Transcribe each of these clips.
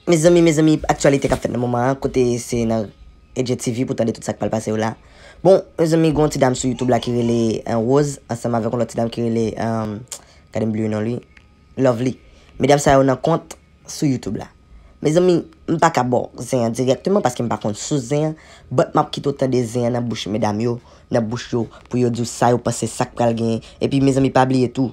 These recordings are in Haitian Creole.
Mezanmi mezanmi aktyalite kap fèt nan moman an kote se nan Edjè TV pou tande tout sak pral pase yo la bon mezanmi gon ti dam sou youtube la ki rele Rose ansanm avèk yon lòt ti dam ki rele gadem bliye non li Lovely medam sa yo nan kont sou youtube la mezanmi m paka baw zen an dirèkteman paskem pa konn sous zen an but map kite w tande zen an nan bouch medam yo nan bouch yo pou yo diw sa yo panse sak pral gen epi mezanmi pa bliye tou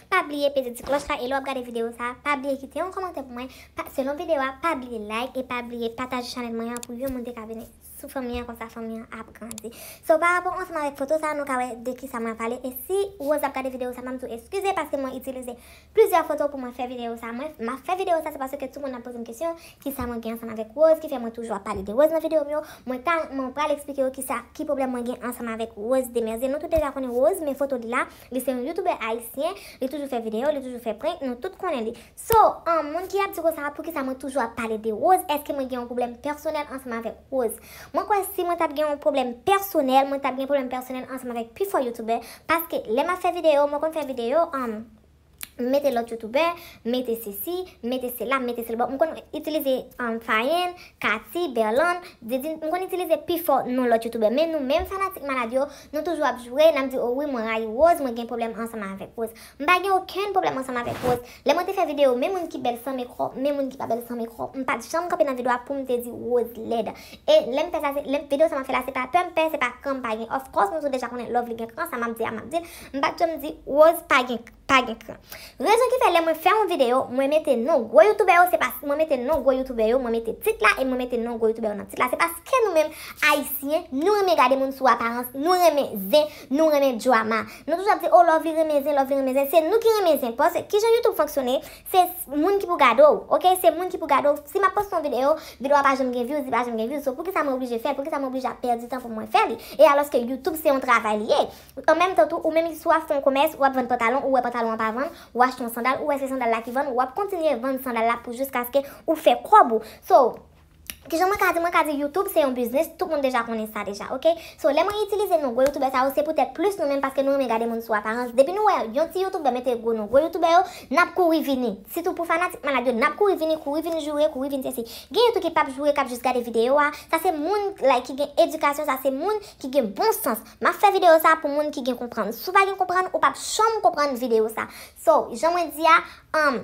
Pa bliye peze ti klòch la e lè wap gade video sa pa bliye kite yon kòmantè pou mwen pa selon video a pa bliye like e pa bliye pataje chanèl mwen an pou yon moun te ka vini sou fanmi an konsa fanmi an ap grandi so pa rapò ansanm avèk foto sa nou ka wè de kisa mwen ap pale e si Rose ap gade video sa map diw eskize paske mwen itilize plizyè foto pou mwen fè video sa mwen map fè video sa se paske tout moun ap pozem kesyon kisa mwen gen ansanm avèk Rose ki fè mwen toujou ap pale de Rose nan video m yo mwen ta mwen pral eksplike yo kisa ki pwoblèm mwen gen ansanm avèk Rose Demerzier nou tout deja konnen Rose men foto li la Li se yon youtubè ayisyen, li toujou fè video, li toujou fè prank, nou tout konnen li. So, an moun ki ap di konsa poukisa mwen toujou ap pale de Rose, eske mwen gen yon pwoblèm pèsonèl ansanm avèk Rose. Mwen kwè si mwen tap gen yon pwoblèm pèsonèl, mwen tap gen pwoblèm pèsonèl ansanm avèk pifò youtubè, paske lè map fè video, mwen konn fè video an. m mete lòt youtubè, m mete sesi, m mete sela, m mete sela. Bon, m konn itilize Fayenn, Kati, Berlann, Didine, m konn itilize pifò non lòt youtubè. Men nou menm fanatik malad yo, nou toujou ap jwe, n ap di o wi mwen rayi Woz, mwen gen pwoblèm ansanm avèk Woz. M pa gen okenn pwoblèm ansanm avèk Woz. Lè mwen te fè videyo men moun ki bèl san mekò, men moun ki pa bèl san mekò, m pa t janm kanpe nan videyo a pou m te di Woz lèd. E lè m fè sa se, lè m, videyo sa m ap fè la se pa pè m pè, se pa kran m pa gen. Of course nou tout deja konnen love li gen kran, sa m ap di a m ap di l. M pat janm di Rose pa gen pa gen kran. Rezon ki fè lè mwen fè yon video, mwen mete non gwo youtubè yo se pask mwen mete non gwo youtubè yo, mwen mete tit la e mwen mete non gwo youtubè yo nan tit la se paske nou menm ayisyen nou renmen gade moun sou aparans, nou renmen zen, nou renmen drama. Nou toujou ap di oh Lovely renmen zen, Lovely renmen zen, se nou ki renmen zen paske kijan youtube fonksyone se moun ki pou gade w ok, se moun ki pou gade w, si map poste yon video, video a pa janm gen views, li pa janm gen views, so poukisa mwen oblije fè l, poukisa mwen oblije ap pèdi tan pou mwen fè li e alòske youtube se yon travay li ye. An menm tan tou, ou menm ki swa fon komès, wap vann pantalon, ou wè pantalon an pa vann, ou achte yon sandal, ou wè se sandal la ki vann, wap kontinye vann sandal la pou jiskaske ou fè kòb ou. So, kijan mwen ka di, mwen ka di YouTube se yon biznis, tout moun deja konnen sa deja ok. So, lè mwen itilize non gwo youtubè sa yo, se poutèt plis nou menm paske nou renmen gade moun sou aparans, depi nou wè yon ti youtubè mete gwo non gwo youtubè yo, nap kouri vini. Sitou pou fanatik malad yo, nap kouri vini, kouri vin joure, kouri vin sesi. Gen yo tou ki pap joure, kap jis gade videyo a, sa se moun like ki gen edikasyon, sa se moun ki gen bon sans. Map fè video sa pou moun ki gen konprann. Si w pa gen konprann, ou pap janm konprann video sa. So, jan mwen di a, um,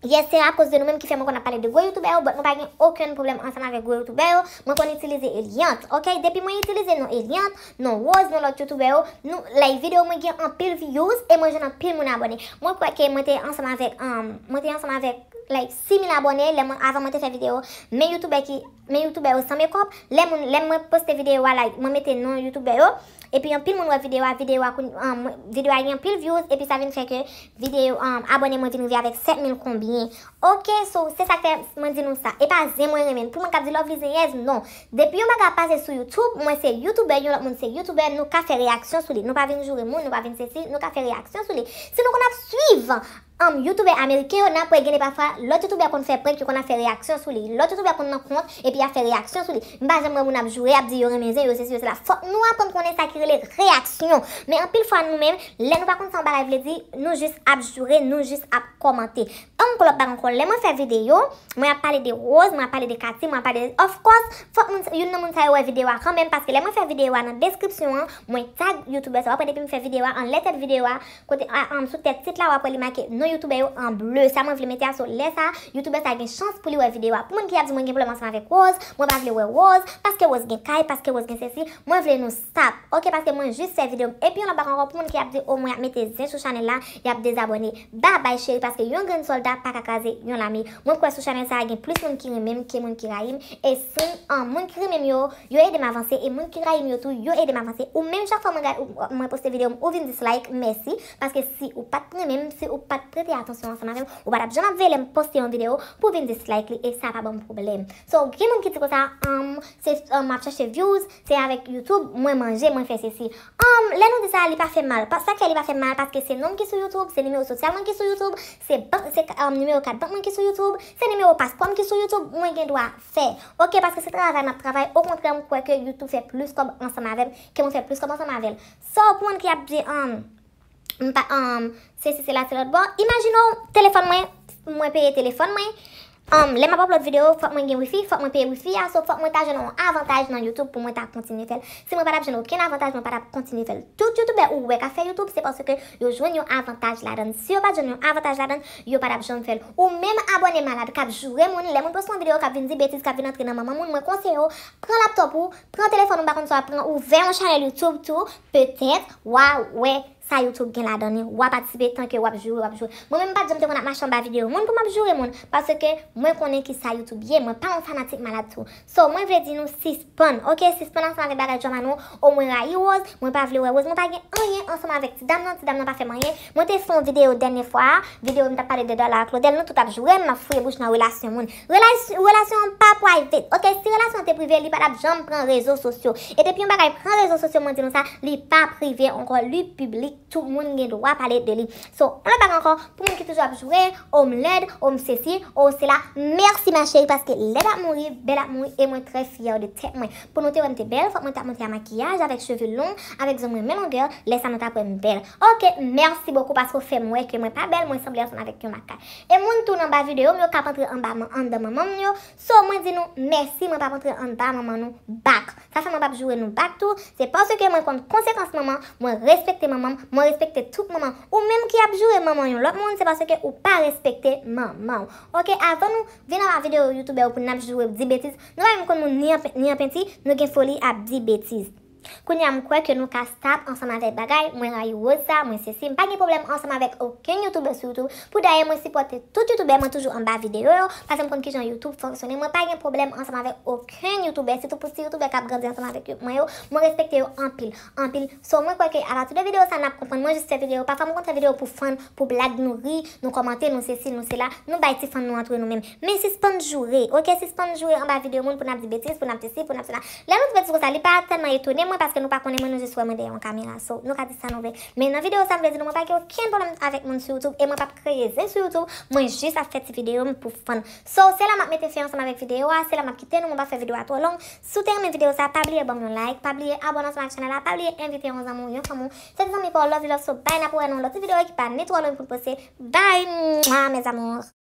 Yes, se akoz de nou menm ki fè mwen konn ap pale de gwo youtubè yo, but mwen pa gen okenn pwoblèm ansanm avèk gwo youtubè yo, mwen konn itilize Eliante, ok, depi mwen itilize non Eliante, non Rose, non lòt youtubè yo, nou, like video mwen gen anpil views, e mwen jwenn anpil moun abòne, mwen kwè ke mwen te ansanm avèk, um, mwen te ansanm avèk, like, 6000 abòne, lè mwen, avan mwen te fè video, men youtubè ki. Men youtubè yo san mekòp, lè moun lè mwen poste videyo a like mwen mete non youtubè yo, epi anpil moun wè videyo a videyo a kounye an mwen videyo a gen anpil vyouz epi sa vin fè ke videyo an abòne mwen vin rive avèk 7000 konbyen ok so se sak fè mwen di nou sa epa zen mwen renmen pou moun kap di lovely zenyèz non depi yon bagay ap pase sou youtube mwen se youtubè yon lòt moun se youtubè nou ka fè reyaksyon sou li nou pa vin joure moun nou pa vin sesi nou ka fè reyaksyon sou li si nou konn ap swiv Humm youtubè ameriken yo nan kwè gende pafwa lòt youtubè konn fè prank yo konn ap fè reyaksyon sou li lòt youtubè konn nan kont epi yap fè reyaksyon sou li m pa janm wè moun ap joure ap di yo renmen zen yo sesi yo sela fòk nou aprann konnen sa ki rele reyaksyon men anpil fwa nou menm lè nou pa konn sa yon bagay vle di nou jis ap joure nou jis ap kòmante humm kòlòt bagon kòl lè mwen fè videyo mwen ap pale de Rose mwen ap pale de Katie mwen ap pale de of kòs fòk moun youn nan moun sa yo wè videyo a kanmenm paske lè mwen fè videyo a nan deskripsyon an mwen tag youtubè sa wap wè depi m fè videyo a anlè tèt videyo a Kote a an sou tèt sit la wap wè li make non youtoubè yo an bleu sa mwen vle mete a so lè sa youtoubè sa gen chans pou li wè video a pou moun ki ap di mwen gen pwoblèm ansanm avèk Rose mwen pa vle wè Rose paske Rose gen kay paske Rose gen sesi mwen vle nou stop ok paske mwen jis fè video m epi yon lòt bagay ankò pou moun ki ap di oh mwen ap mete zen sou chanèl la yap dezabòne babay cheri paske yon grenn sòlda paka kraze yon lame mwen kwè sou chanèl sa gen plis moun ki renmenm ke moun ki rayim e sim an moun ki renmenm yo Yo edem avanse e moun ki rayim yo tou yo edem avanse ou menm chak fwa mwen gad ou mwen poste video m ou vin dislike mèsi paske si ou pat renmenm si ou pat prete atansyon ansanm avèm ou patap janm ap veye lèm poste yon video pou vin dislike li e sa pa banm pwoblèm so gen moun ki di konsa humm se humm map chache vyouz se avèk youtube mwen manje mwen fè sesi humm lè nou di sa li pa fèm mal sak fè li pa fèm mal paske se nonm ki sou youtube se nimewo sosyal mwen ki sou youtube se bank se humm nimewo kat bank mwen ki sou youtube se nimewo paspòm ki sou youtube mwen gen dwa fè ok paske se travay map travay okontrè m kwè ke youtube fè plis kòb ansanm avèm ke mwen fè plis kòb ansanm avèl sa w konn ki ap di anm m pa anm sesi sela ti lòtbò imajine w telefòn mwen mwen peye telefòn mwen anm lè map aplòd video fòk mwen gen wifi fòk mwen peye wifi a so fòk mwen ta jwenn yon avantaj nan youtube pou mwen ta kontinye fèl si mwen patap jwenn okenn avantaj mwen patap kontinye fèl tout youtubè ou wè kap fè youtube se paske yo jwenn yon avantaj ladann si yo pat jwenn yon avantaj ladann Yo patap janm fèl. Ou menm abòne malad kap joure moun lè moun poste yon video kap vin di betiz kap vin antre nan manman moun mwen konseye w pran laptop ou pran telefòn ou m pa konn sa wap pran ouvè yon chanèl youtube tou petèt wa wè sa youtube gen ladan li wa patisipe tanke wap joure wap joure mwen menm m pat janm te konn ap mache anba video moun pou map joure moun paske mwen konnen kisa youtube ye mwen pa yon fanatik malad tou So mwen vle di nou sispann ok sispann ansanm avèk bagay drama nou oh mwen rayi Rose mwen pa vle wè Rose mwen pa gen anyen ansanm avèk ti dam nan ti dam nan pa fèm anyen mwen te fon video dènye fwa a video m tap pale de Darla ak Claudel nou tout ap jourem map fouye bouch nan relasyon moun relasyon an pa private ok si relasyon an te prive li pa tap janm pran rezo sosyo e depi yon bagay pran rezo sosyo mwen di nou sa li pa prive ankò li piblik. Tout moun gen dwa pale de li. So, on lòt bagay ankò, pou moun ki toujou ap joure, oh m lèd, oh m sesi, oh sela, mèsi ma chérie paske lèd ap mouri, bèl ap mouri e mwen trè fyè de tèt mwen. Pou nou te wè m te bèl, fòk mwen ta monte a makiyaj, avèk cheve long, avèk zong mwen men longè, lè sa nou tap wè m bèl. Ok, mèsi bokou paske w fè m wè ke mwen pa bèl, mwen sanble ansanm avèk yon makak. E moun tou nan ba videyo m yo kap antre anba, andan manman m yo, So mwen di nou mèsi mwen pap antre anba manman nou back sa fè mwen pap joure nou back tou se paske mwen konn konsekans manman mwen respekte manmanm mwen respekte tout manman ou menm ki ap joure manman yon lòt moun se paske ou pa respekte manmanw ok avan nou vin anba video youtubè pou nap joure di betiz nou pa menm konn moun ni an penti nou gen foli ap di betiz. Kounya m kwè ke nou ka stop ansanm avèk bagay mwen rayi Rose sa mwen sesi m pa gen pwoblèm ansanm avèk okenn youtubè sou youtube pou dayè mwen sipòte tout youtubè mwen toujou anba videyo yo paske m konn kijan youtube fonksyone mwen pa gen pwoblèm ansanm avèk okenn youtubè sitou pou ti youtubè kap grandi ansanm avèk mwen yo mwen respekte yo anpil anpil so mwen kwè ke apati de videyo sa nap konprann mwen jis fè videyo pafwa m konn fè videyo pou fan pou blag nou ri nou kòmante nou sesi nou sela nou bay ti fan nou antre nou men Men sispann joure ok sispann joure anba video moun pou nap di betiz pou nap di si pou nap sela lè nou di betiz konsa li pa tèlman etone mwen paske nou pa konnen mwen nou jis wè mwen dèyè yon kamera so nou ka di sa nou vle men nan video sa m vle di nou mwen pa gen okenn pwoblèm avèk moun sou youtube e mwen pap kreye zen sou youtube mwen jis ap fè ti video m pou fun so se la map mete fen ansanm avèk video a se la map kite nou mwen pap fè video a twò long si w te renmen video sa pa bliye banm yon like pa bliye abòne ansanm avèk chanèl la pa bliye envite yon zanmi w yon fanmi w se te zanmi pa w love you love so bby nap wè nan yon lòt ti video ki pa ni twò long poun poste bby mouah mes amours.